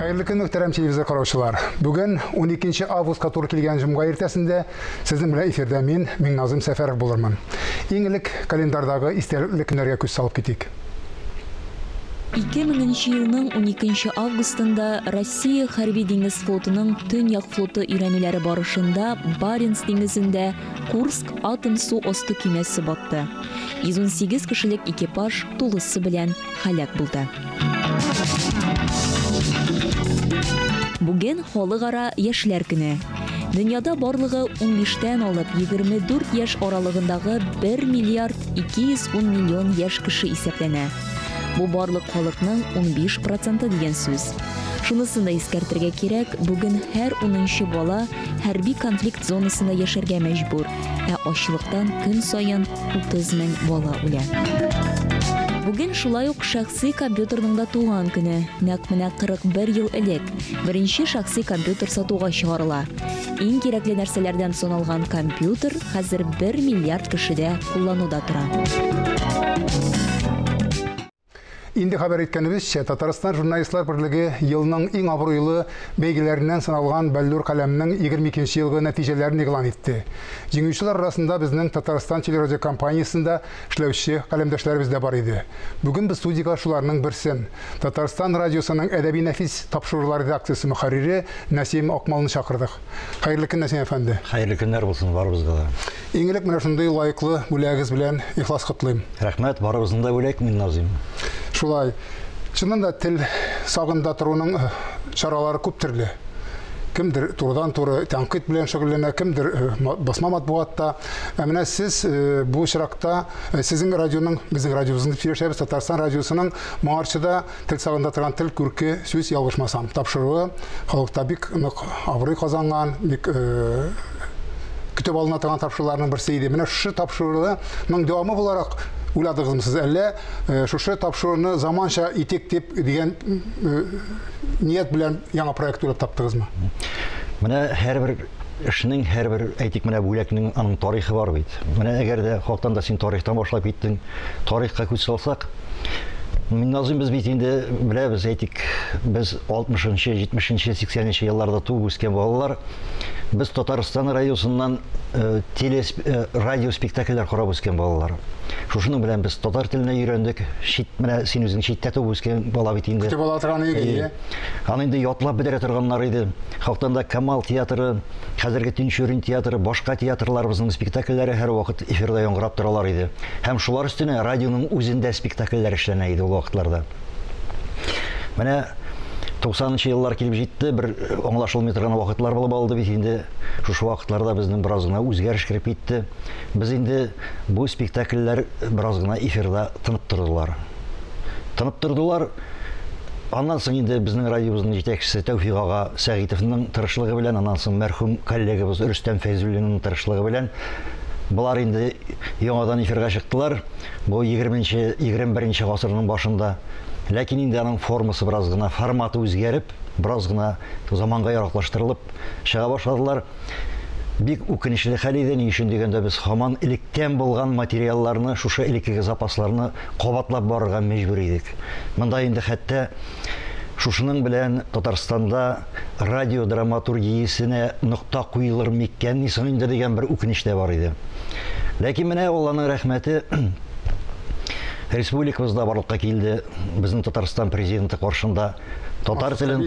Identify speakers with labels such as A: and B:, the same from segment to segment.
A: Хәерле көн, мөхтәрәм телевизор караучылар. Бүген 12 августка туры килгән җомга иртәсендә сезнең белән эфирдә мин, Миңназым Сәфәров булырмын. Иң элек календарьдагы истәлекле көннәргә күз салып китик. 2000
B: елның 12 августында Россия хәрби-диңгез флотының Төньяк флоты өйрәнүләре барышында Баренц диңгезендә Курск атом су асты көймәсе батты. 118 кешелек экипаж тулысы белән һәлак булды. Бүген халыкара яшьләр көне. Дөньяда барлыгы 15 тән алып 24 яшь аралыгындагы 1 миллиард 210 миллион яшь кеше исәпләнә. Бу барлык халыкның 15 проценты дигән сүз. Шунысын да искәртергә кирәк, бүген һәр 10 бала хәрби конфликт зонасында яшәргә мәҗбүр, ә ачлыктан көн саен 30 мең бала үлә. Бүген шулай ук шәхси компьютерның да туган көне. Нәкъ менә 41 ел элек беренче шәхси компьютер сатуга чыгарыла. Иң кирәкле нәрсәләрдән саналган компьютер хәзер 1 миллиард кешедә куллануда тора.
A: Инде хәбәр иткәнебезчә, Татарстан журналистлар берлеге елның иң абруйлы бәйгеләреннән саналган Бәллүр каләмнең 22 нче елгы нәтиҗәләрен игълан итте. Җиңүчеләр арасында безнең Татарстан телерадиокомпаниясендә эшләүче каләмдәшләребез дә бар иде. Бүген без студиягә шуларның берсен, Татарстан радиосының әдәби-нәфис тапшырулар редакциясе мөхәррире Нәсим Акмалны чакырдык. Хәерле көннәр сиңа, әфәнде. Хәерле көннәр булсын
C: барыбызга да. Иң элек менә
A: шундый лаеклы бүләгегез белән ихлас котлыйм. Рәхмәт, барыбызны да
C: бүләк, мин Назыйм. Шулай.
A: Чыннан да тел сагында торуның чаралары күп төрле. Кемдер турыдан-туры тәнкыйть белән шөгыльләнә, кемдер басма матбугатта. Ә менә сез бу очракта, сезнең радионың, безнең радиобызның дип сөйләшәбез, Татарстан радиосының моңарчы да Тел сагында торган тел күрке, сүз ялгышмасам, тапшыруы халыкта бик нык абруй казанган, бик көтеп алына торган тапшыруларның берсе иде. Менә шушы тапшыруның дәвамы буларак уйладыгызмы сез әллә шушы тапшыруны заманча итик дип дигән ният белән яңа проект уйлап таптыгызмы? Менә
C: һәрбер эшнең һәрбер әйтик менә бүләкнең аның тарихы бар бит. Менә әгәр дә халыктан да син тарихтан башлап киттең, тарихка күз салсак, Минназыйм без бит инде беләбез, әйтик, без 60-нчы, 70-нче, 80-нче елларда туып үскән балалар. Без Татарстан радиосыннан э, теле э, радио спектакльләр карап үскән балалар. Шушының белән без татар теленә өйрәндек. Чит менә син үзең читтә туып үскән бала бит инде. Көтеп ала торган иде.
A: Аны инде ятлап
C: бетерә торганнар иде. Хактанда Камал театры, Хәзерге Тинчурин театры, башка театрларыбызның спектакльләре һәрвакыт эфирда яңгырап торалар иде. Һәм шулар өстенә радионың үзендә спектакльләр эшләнә иде ул вакытларда. Менә 90 нчы еллар килеп җитте, бер аңлашылмый торган вакытлар булып алды бит инде. Шушы вакытларда безнең бераз гына үзгәреш кереп китте. Без инде бу спектакльләр бераз гына эфирда тынып тордылар. Тынып тордылар. Аннан соң инде безнең радиобызның җитәкчесе Тәүфик ага Сәгыйтовның тырышлыгы белән, аннан соң мәрхүм коллегабыз Рөстәм Фәйзуллинның тырышлыгы белән болар инде яңадан эфирга чыктылар. Бу 20-нче, 21-нче гасырның башында. Ләкин инде аның формасы бераз гына, форматы үзгәреп, бераз гына заманга яраклаштырылып чыга башладылар. Бик үкенечле хәл иде, ни өчен дигәндә без һаман электән булган материалларны, шушы элеккеге запасларны кабатлап барырга мәҗбүр идек. Монда инде хәтта шушының белән Татарстанда радио драматургиясенә нокта куелыр миккәнни соң инде дигән бер үкенеч тә бар иде. Ләкин менә Алланың рәхмәте, республикабызда барлыкка килде, безнең Татарстан президенты каршында Татар телен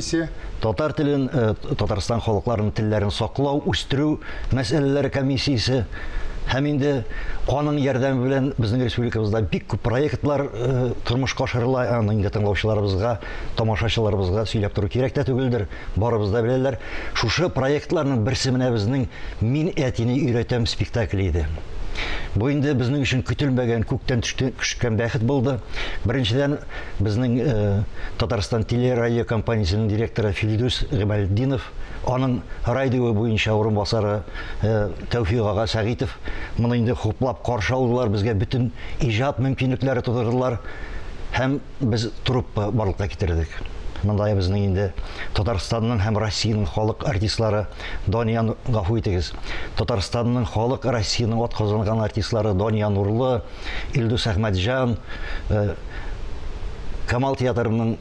C: Татар телен э, Татарстан халыкларының телләрен саклау, үстерү мәсьәләләре комиссиясе һәм инде аның ярдәме белән безнең республикабызда бик күп проектлар э, тормышка ашырыла аны инде тыңлаучыларыбызга тамашачыларыбызга сөйләп тору кирәк тә түгелдер барыбыз да беләләр шушы проектларның берсе менә безнең мин әтине өйрәтәм спектакле иде бу инде безнең өчен көтелмәгән күктән төшкән бәхет булды беренчедән безнең Татарстан телерадиокомпаниясенең директоры Филдүс Гыймалетдинов, аның радио буенча урынбасары Тәүфик ага Сәгыйтов моны инде хуплап каршы алдылар, безгә бөтен иҗат мөмкинлекләре тудырдылар һәм без труппа барлыкка китердек. Монда безнең инде Татарстанның һәм Россиянең халык артистлары Дания, гафу итегез, Татарстанның халык, Россиянең атказанган артистлары Дания Нурлы, Илдус Әхмәтҗан, э, Камал театрының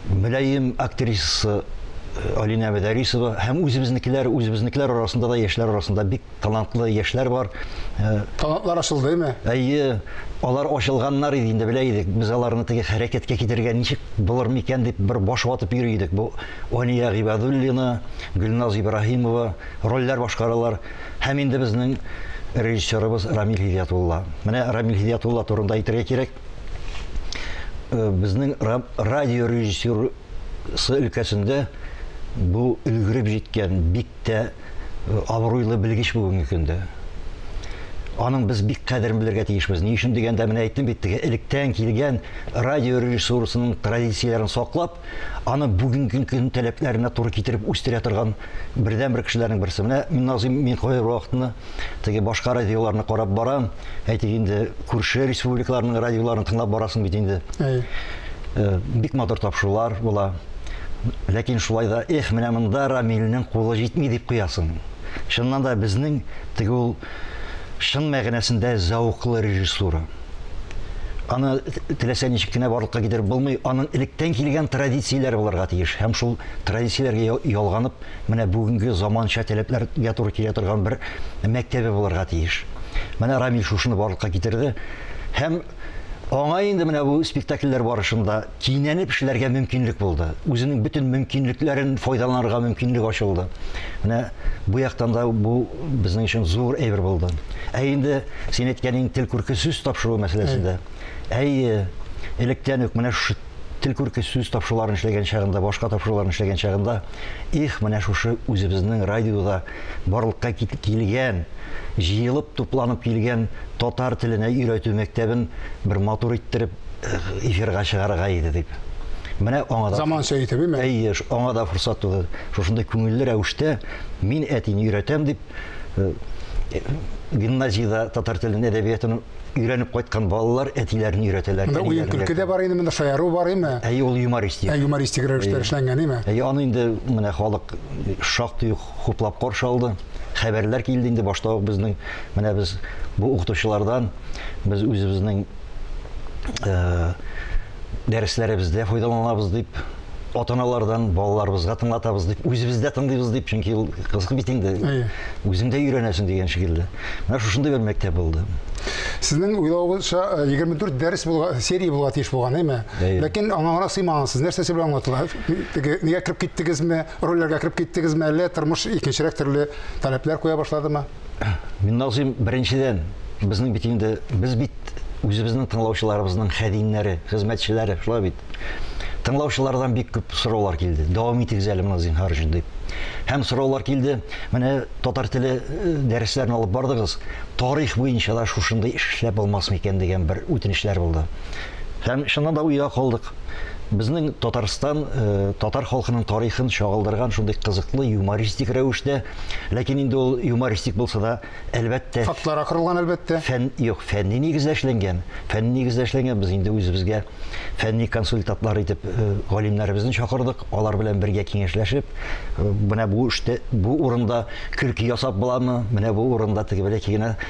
C: мөлаем актрисасы э, Алинә Мәдәрисова һәм үзебезнекеләр, үзебезнекеләр арасында да яшьләр арасында бик талантлы яшьләр бар. Э, Талантлар
A: ачылдымы? Әйе,
C: алар ачылганнар иде инде белә идек. Без аларны теге хәрәкәткә китерергә ничек булыр микән дип бер баш ватып йөри идек. Бу Алия Гыйбадуллина, Гөлназ Ибраһимова рольләр башкаралар. Һәм инде безнең режиссерыбыз Рамил Һидиятулла. Менә Рамил Һидиятулла турында әйтергә кирәк. Э, безнең радио режиссерысы өлкәсендә бу өлгереп җиткән бик тә э, абруйлы белгеч бүгенге көндә. Аның без бик кадерен белергә тиешбез. Ни өчен дигәндә менә әйттем бит, теге электән килгән радио режиссурасының традицияләрен саклап, аны бүгенге көн таләпләренә туры китереп үстерә торган бердән бер кешеләрнең берсе. Менә мин Назым мин кое вакытны теге башка радиоларны карап барам. Әйтик инде күрше республикаларның радиоларын тыңлап барасың бит инде. Әй. Э, бик матур тапшырулар була. Ләкин шулай да эх, менә монда Рамилнең кулы җитми дип куясың. Чыннан да безнең теге ул чын мәгънәсендә зәвыклы режиссура. Аны теләсә ничек кенә барлыкка китереп булмый, аның электән килгән традицияләре булырга тиеш. Һәм шул традицияләргә ялганып, менә бүгенге заманча таләпләргә туры килә торган бер мәктәбе булырга тиеш. Менә Рамил шушыны барлыкка китерде. Һәм аңа инде менә бу спектакльләр барышында кинәнеп эшләргә мөмкинлек булды. Үзенең бөтен мөмкинлекләрен файдаланырга мөмкинлек ачылды. Менә бу яктан да бу безнең өчен зур әйбер булды. Ә инде син әйткәнең тел күрке сүз тапшыру мәсьәләсендә. Әйе, электән үк менә шушы тел күрке сүз тапшыруларын эшләгән чагында, башка тапшыруларын эшләгән чагында, их, менә шушы үзебезнең радиода барлыкка килгән, җыелып, тупланып килгән татар теленә өйрәтү мәктәбен бер матур иттереп эфирга чыгарырга иде дип. Менә аңа да заманча итеп, әйме? Әйе,
A: аңа да форсат туды.
C: Шушындый күңелле рәвештә мин әтине өйрәтәм дип гимназиядә татар телен әдәбиятын өйрәнеп кайткан балалар әтиләрен өйрәтәләр. Монда уен көлке дә бар
A: инде, монда шаяру бар име? Әйе, ул юмористик. Ә
C: юмористик рәвештә
A: эшләнгән име? Әйе, аны инде менә
C: халык шактый ук хуплап каршы алды. Хәбәрләр килде инде башта ук безнең менә без бу укытучылардан без үзебезнең э, дәресләребездә файдаланабыз дип, ата-аналардан балаларыбызга тыңлатабыз дип, үзебез дә тыңлыйбыз дип, чөнки ул кызык бит инде. Үзең дә өйрәнәсең дигән шикелле. Менә шушындый бер мәктәп булды. Сезнең
A: уйлавыгызча 24 э, дәрес булга, серия булга тиеш булган, әйме? Ләкин аңаңра сыймагансыз. Нәрсә сез белән аңлатыла? Теге нигә кереп киттегезме? Рольләргә кереп киттегезме? Әллә тормыш икенчерәк төрле таләпләр куя башладымы? Минназыйм,
C: беренчедән, безнең бит инде, без бит үзебезнең тыңлаучыларыбызның хәдимнәре, хезмәтчеләре, шулай бит. Тыңлаучылардан бик күп сораулар килде. Дәвам итегез әле моны зинһар өчен дип. Һәм сораулар килде. Менә татар теле э, дәресләрен алып бардыгыз. Тарих буенча да шушындый эш эшләп булмас микән дигән бер үтенечләр булды. Һәм чыннан да уйга калдык. Безнең Татарстан, э, татар халкының тарихын чагылдырган шундый кызыклы юмористик рәвештә Ләкин инде ул юмористик булса да, әлбәттә, Фактларга корылган,
A: әлбәттә. фән юк, фәнни нигездә
C: эшләнгән. Фәнни нигездә эшләнгән, без инде үзебезгә фәнни консультантлар итеп э, галимнәребезне чакырдык, алар белән бергә киңәшләшеп, э, менә бу эштә, бу урында көлке ясап буламы, менә бу урында теге беләки генә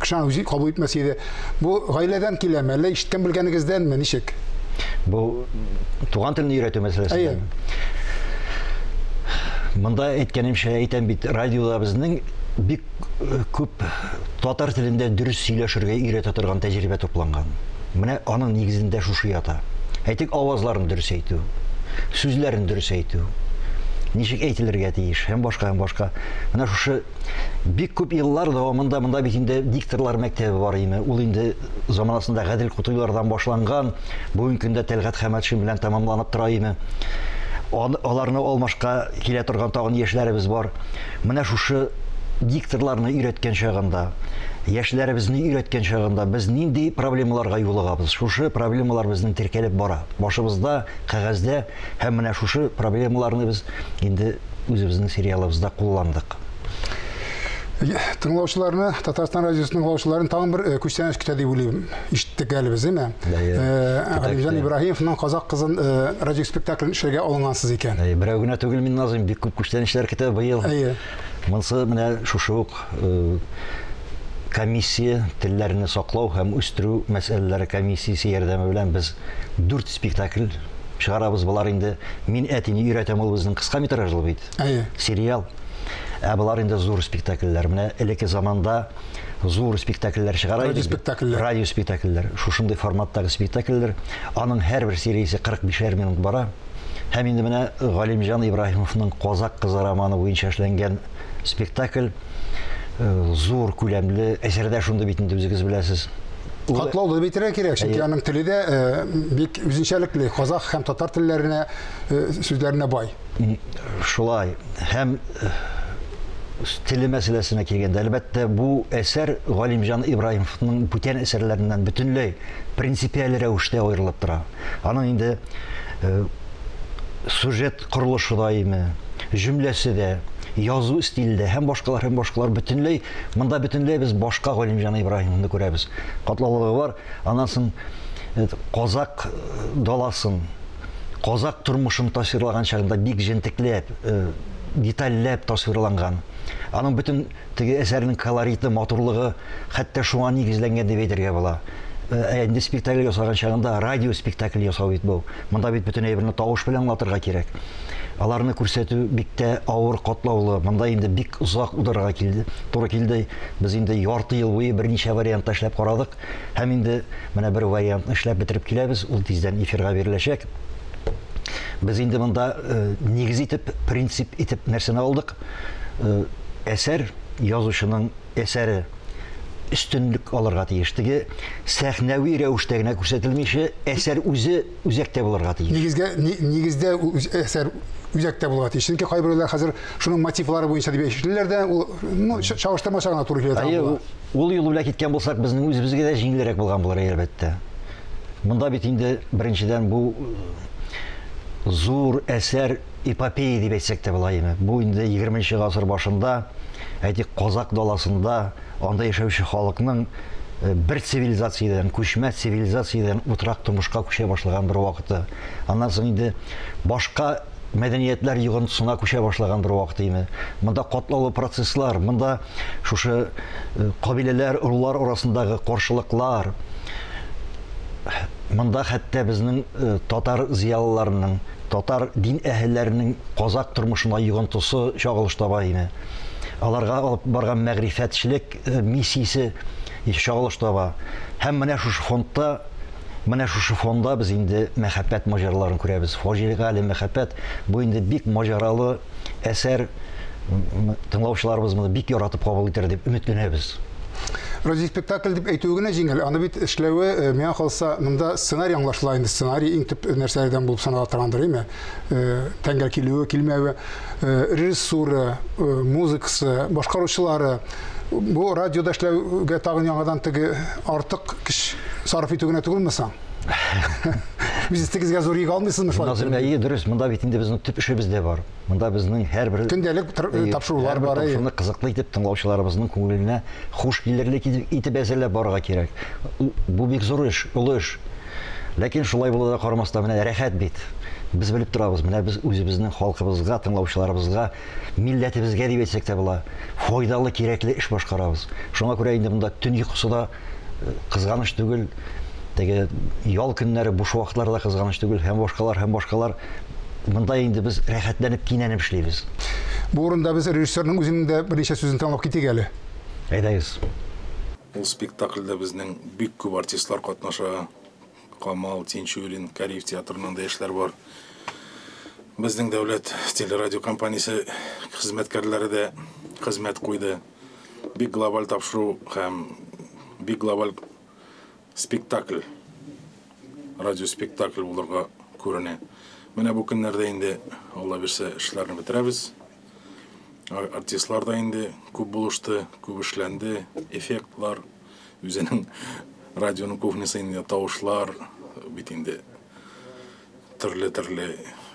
A: Кеше үзе кабул итмәс иде. Бу гаиләдән киләме, әллә ишеткән белгәнегездәнме, ничек? Бу
C: туган телне өйрәтү мәсьәләсе. Монда әйткәнемчә әйтәм бит, радиода безнең бик күп татар телендә дөрес сөйләшергә өйрәтә торган тәҗрибә тупланган. Менә аның нигезендә шушы ята. Әйтик, авазларын дөрес әйтү, сүзләрен дөрес әйтү, ничек әйтелергә тиеш һәм башка һәм башка. Менә шушы Бик күп еллар дәвамында монда бит инде дикторлар мәктәбе бар име. Ул инде заманасында Гадел Кутуйлардан башланган, бүгенге көндә Тәлгат Хәмәтшин белән тәмамланып тора име. Аларны алмашка килә торган тагын яшьләребез бар. Менә шушы дикторларны өйрәткән чагында, яшьләребезне өйрәткән чагында без нинди проблемаларга юлыгабыз? Шушы проблемалар безнең теркәлеп бара. Башыбызда, кәгазьдә Һәм менә шушы проблемаларны без инде үзебезнең сериалыбызда кулландык.
A: Тыңлаучыларны, Татарстан радиосы тыңлаучыларын тагын бер э, күчтәнәч көтә дип уйлыйм. Ишеттек әле без, әйме? Э, Галимҗан Ибраһимовның Казак кызын э, радиоспектаклен эшләргә алынгансыз икән. Берәү генә түгел, мин
C: Назым, бик күп күчтәнәчләр көтә быел. Монсы менә шушы ук комиссия, телләрне саклау һәм үстерү мәсьәләләре комиссиясе ярдәме белән без дүрт спектакль чыгарабыз. Болар инде Мин әтине өйрәтәм ул безнең кыска метражлы бит. Әйе. Сериал. Ә болар инде зур спектакльләр. Менә элекке заманда зур спектакльләр чыгара иде. Радио спектакльләр. Радио спектакльләр. Шушындый форматтагы спектакльләр. Аның һәрбер сериясе 45-әр минут бара. Һәм инде менә Галимҗан Ибраһимовның Казак кызы романы буенча эшләнгән спектакль э, зур күләмле әсәрдә шундый бит инде үзегез беләсез. Катлаулы
A: битерә кирәк, чөнки аның теле дә э, бик үзенчәлекле, казах һәм татар телләренә э, сүзләренә бай. Шулай.
C: Һәм э, теле мәсьәләсенә килгәндә, әлбәттә, бу әсәр Галимҗан Ибраһимовның бүтән әсәрләреннән бөтенләй принципиаль рәвештә аерылып тора. Аның инде э, сюжет корылышы да име, җөмләсе дә, язу стиле дә һәм башкалар һәм башкалар бөтенләй монда бөтенләй без башка Галимҗан Ибраһимовны күрәбез. Катлаулылыгы бар, анасын э, казак э, даласын, казак тормышын тасвирлаган чагында бик җентекләп, э, детальләп тасвирланган. Аның бөтен Теге әсәрнең колориты, матурлыгы хәтта шуңа нигезләнгән дип әйтергә була. Ә инде спектакль ясаган чагында радио спектакле ясау бит бу. Монда бит бөтен әйберне тавыш белән аңлатырга кирәк. Аларны күрсәтү бик тә авыр, катлаулы. Монда инде бик озак ударга килде, туры килде. Без инде ярты ел буе берничә вариантта эшләп карадык һәм инде менә бер вариантны эшләп бетереп киләбез, ул тиздән эфирга биреләчәк. Без инде монда нигез итеп, принцип итеп нәрсәне алдык? э, әсәр язучының әсәре өстенлек алырга тиеш. Теге сәхнәви рәвештә генә күрсәтелмичә, әсәр үзе үзәктә булырга тиеш. Нигезгә нигездә
A: әсәр үзәктә булырга тиеш. Чөнки кайберләр хәзер шуның мотивлары буенча дип әйтүчеләр дә, ул ну чагыштырмача гына туры килә. Әйе, ул юл белән киткән
C: булсак, безнең үзебезгә дә җиңелрәк булган булыр, әлбәттә. Монда бит инде беренчедән бу зур әсәр эпопея дип әйтсәк тә була име, бу инде егерменче гасыр башында, әйтик, казакъ даласында анда яшәүче халыкның э, бер цивилизациядән, күчмә цивилизациядән утрак тормышка күчә башлаган бер вакыты. Аннан соң инде башка мәдәниятләр йогынтысына күчә башлаган бер вакыт иде. Монда катлаулы процесслар, монда шушы э, кабиләләр, рулар арасындагы каршылыклар, монда хәтта безнең э, татар зиялыларының татар дин әһелләренең казак тормышына йогынтысы чагылышта бар иде. Аларга алып барган мәгърифәтчелек э, миссиясе чагылышта бар. Һәм менә шушы фондта Менә шушы фонда без инде мәхәббәт маҗараларын күрәбез. Фаҗигале мәхәббәт бу инде бик маҗаралы әсәр тыңлаучыларыбыз моны бик яратып кабул итәр дип өметләнәбез. Разис
A: спектакль дип әйтүе генә җиңел, аны бит эшләве, э, миңа калса, монда сценарий аңлашыла инде, сценарий иң төп нәрсәләрдән булып санала торгандыр, әйме? Э, тәңгәл килүе, килмәве, э, режиссура, музыкасы, башкаручылары, бу радиода эшләүгә тагын яңадан теге артык көч сарыф итү генә түгелме соң? Үз истегезгә зур йөк алмыйсызмы шулай? Назым әйе, дөрес. Монда бит
C: инде безнең төп эшебез дә бар. Монда безнең һәрбер көндәлек
A: тапшырулар бар. Шуны кызыклы итеп
C: тыңлаучыларыбызның күңеленә хуш килерлек итеп әзерләп барырга кирәк. Бу бик зур эш, олы эш. Ләкин шулай булуга карамастан менә рәхәт бит. Без белеп торабыз, менә без үзебезнең халкыбызга, тыңлаучыларыбызга, милләтебезгә дип әйтсәк тә була, файдалы, кирәкле эш башкарабыз. Шуңа күрә инде монда төн йокысы да кызганыч түгел, теге ял көннәре буш вакытлар да кызганыч түгел һәм башкалар һәм башкалар монда инде без рәхәтләнеп кинәнеп эшлибез. Бу урында без
A: режиссерның үзенең дә берничә сүзен тыңлап китик әле. Әйдәгез.
D: Ул спектакльдә безнең бик күп артистлар катнаша. Камал, Тинчурин, Кариев театрыннан да яшьләр бар. Безнең дәүләт телерадиокомпаниясе хезмәткәрләре дә хезмәт куйды. Бик глобаль тапшыру һәм бик глобаль спектакль, радиоспектакль булырга күренә. Менә бу көннәрдә инде, Алла бирсә, эшләрне бетерәбез. Артистлар да инде күп булышты, күп эшләнде, эффектлар, үзенең радионың кухнясы инде тавышлар бит инде Төрле төрле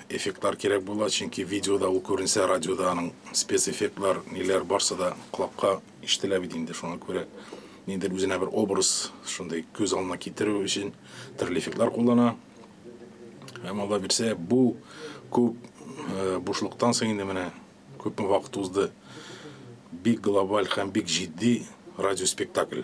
D: эффектлар кирәк була, чөнки видеода ул күренсә, радиода аның спецэффектлар, ниләр барсы да колакка ишетелә бит инде, шуңа күрә ниндидер үзенә бер образ шундый күз алдына китерү өчен төрле эффектлар куллана. Һәм алла бирсә, бу күп э, бушлыктан соң инде менә күпме вакыт узды. Бик глобаль һәм бик җитди радиоспектакль.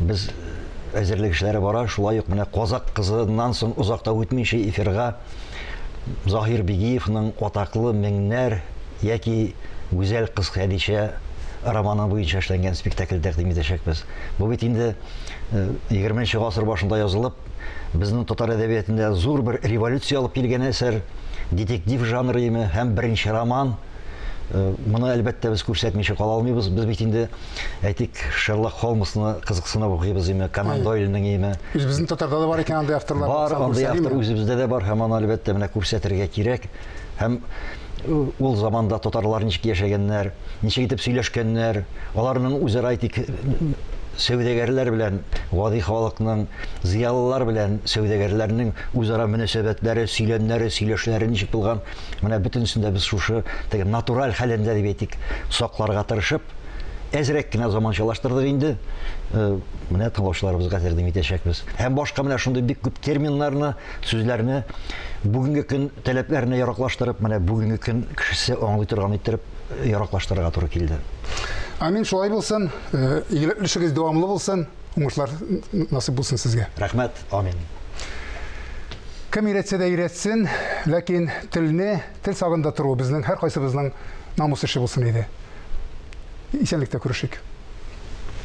C: без әзерлек эшләре бара, шулай ук менә Казак кызыннан соң озак та үтмичә эфирга Заһир Бигиевның атаклы Меңнәр яки Гүзәл кыз Хәдичә романы буенча эшләнгән спектакль тәкъдим итәчәкбез. Бу бит инде 20 нче гасыр башында язылып, безнең татар әдәбиятендә зур бер революция алып килгән әсәр, детектив жанры име һәм беренче роман. Моны, әлбәттә, без күрсәтмичә кала алмыйбыз. Без бит инде әйтик, Шерлок Холмсны кызыксынып укыйбыз име, Конан Дойльның име. Үзебезнең татарда да бар
A: икән андый авторлар. Бар, андый автор
C: үзебездә дә бар һәм аны әлбәттә менә күрсәтергә кирәк. Һәм ул заманда татарлар ничек яшәгәннәр, ничек итеп сөйләшкәннәр, аларның үзара әйтик сәүдәгәрләр белән гади халыкның, зыялылар белән сәүдәгәрләрнең үзара мөнәсәбәтләре, сөйләмнәре, сөйләшләре ничек булган? Менә бөтенесен дә без шушы теге натураль хәлендә дип әйтик, сакларга тырышып, әзрәк кенә заманчалаштырдык инде. Э, менә тыңлаучыларыбызга тәкъдим итәчәкбез. Һәм башка менә шундый бик күп терминнарны, сүзләрне бүгенге көн таләпләренә яраклаштырып, менә бүгенге көн кешесе аңлый торган иттереп яраклаштырырга туры килде. Амин, шулай
A: булсын. Э, игелеклешегез дәвамлы булсын. Уңышлар насыйп булсын сезгә. Рәхмәт, амин. Кем өйрәтсә дә өйрәтсен, ләкин телне, тел сагында тору безнең һәркайсыбызның намус эше булсын иде. Исәнлектә күрешик.